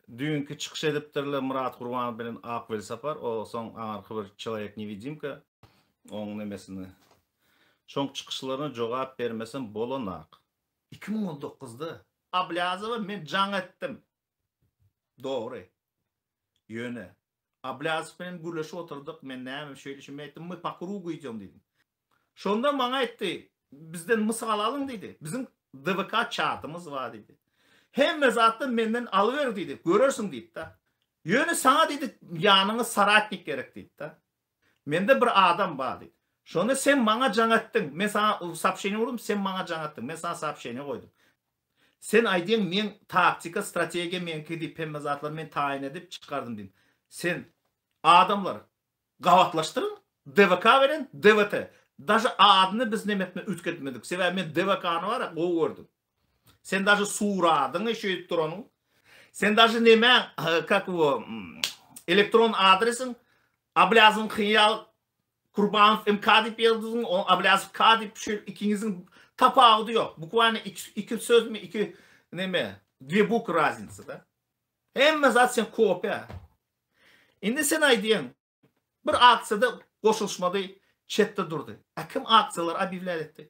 Düýnki çykyş edipdirler Myrat Gurbanow bilen Ak Welsapar, o soň aňyrky bir Çeloýek newidimka oň nemesini. Şoň çykyşlaryna jogap bermesem bolanak. Iki müň on dokuzda Ablýazowa men jaň etdim. Dogry. Ýöne, Ablýazow bilen gürleşip oturdyk, men näme, şeýle şeýle aýtdym, my pakuruw guýdýaň diýdim. Şonda maňa aýtdy, bizden mysal alyň diýdi, biziň DVK çatymyz bar diýdi. Hemme zatdan menden alyber diýdi, görersiň diýdi-de. Ýöne saňa diýdi, ýanyňa soratnik gerek diýdi-de. Mende bir adam bar diýdi. Şonda sen maňa jaň etdiň, men saňa soopşeniýe urdum, sen maňa jaň etdiň, men saňa soopşeniýe goýdum. Sen aýdyň meň taktika strategiýa meňki diýip hemme zatlary men taýyn edip çykardym diýip. Sen adamlar gabatlaşdyryň DVK beren DVT daže adyny biz neme etme üýtgetmedik sebäbi men DVKny bara gowy gördüm. Sen daže suradyňy şeýdip duranyň sen daže neme kak o elektron adresiň ablýazyňky ýaly Kurbanow MK diýip ýazdyň, o Ablýasow K diýip düşür, ikiňiziň tapawudy ýok. Bukwaýna iki sözmi, iki neme, dwie bukwy raznica-da. Hemme zat sen kopýa. Indi sen aýdýaň, bir aksiýada goşulyşmady, çetde durdy. Ä kim aksiýalary obýewlýär etdi?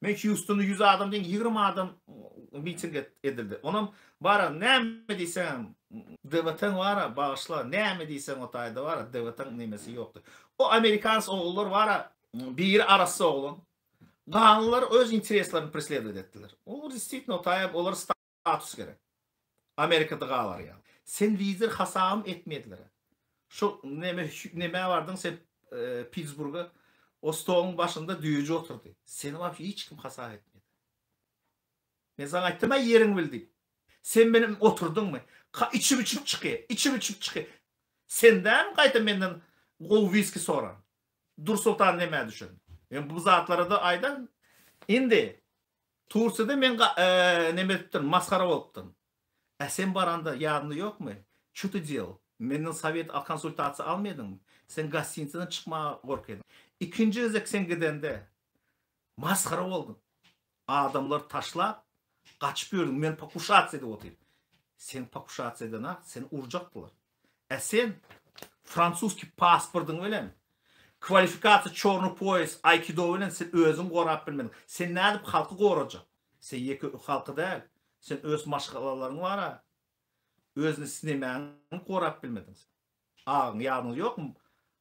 Men Hýustona ýüz adam deň ýigrimi adam miting edildi. Onam bara näme diýseňem DVT-ň bara bagyşla näme diýseň o taýda bara DVT-ň nemesi ýokdy. O amerikans ogullar bara biri arassa oglan. Galylar öz intereslerini presledovat etdiler. O disitno taýap olar Status gerek. Amerikada galar ýaly. Sen lider hasabym etmezlere. Şu neme nemä bardyň sen Pitsburga? O stoluň başynda düýeji oturdy. Seni wap hiç kim hasap etmedi. Men saňa aýtdym aý ýeriňi bil diýip. Sen meni oturdyňmy? Ka içip içip çyky, içip içip çyky. Senden gaýta menden gowy wiski soran. Dur Sultan nemä düşen? Men bu zatlara da aýdan. Indi Tursiýada men neme edipdirin, masgara bolupdyryn. Ä sen baranda ýadyňda ýokmy? Ço ty dýel? Menden sowet al konsultasiýa alma ediňmi? Sen gostinitsadan çykmaga gork ediň. Ikinji gezek sen gidende masgara bolduň. Adamlary taşlap gaçyp ýördüň, men pokushasiýada otyr. Sen pokushasiýadan-a seni urjakdylar. Ä sen fransuski pasportyň bilen kwalifikasiýa çorny poýas aýkido bilen sen özüň gorap bilmediň. Sen nädip halky gorajak? Sen ýeke ük halky däl. Sen öz maşgalalaryň bar a. Özüni snemäňi gorap bilmediň sen. Agyň ýadyňda ýokmy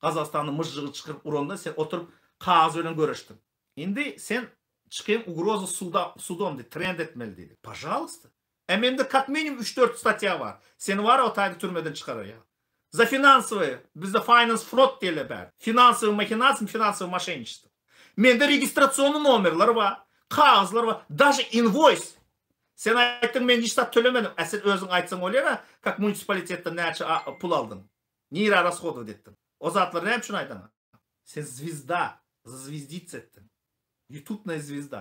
Gazagystanda myžžygy çykyryp uranda sen oturyp kagyz bilen göreşdiň. Indi sen çykyň ugroza suda sudom diý trend etmeli diýdi. Pažalysta. A mende kak minimum üç dört statýa bar. Seni bar o taýda türmeden çykararýar. Za finansowy, bizde finance frod diýilýär bäri. Finansowy mahinasiýa, finansowy moşenniçestvo. Mende registrasiony nomerler bar, kagyzlar bar, daže inwoýs. Sen aýtdyň men hiç zat tölemedim. A sen özüň aýtsaň bolýar a, kak munisipolitetden näçe a pul aldyň. Nirä rashodowat etdiň. O zatlary näme üçin aýdaň a? Sen zwizda, zaзвездиться etdiň. Ýutubnaýa zwizda.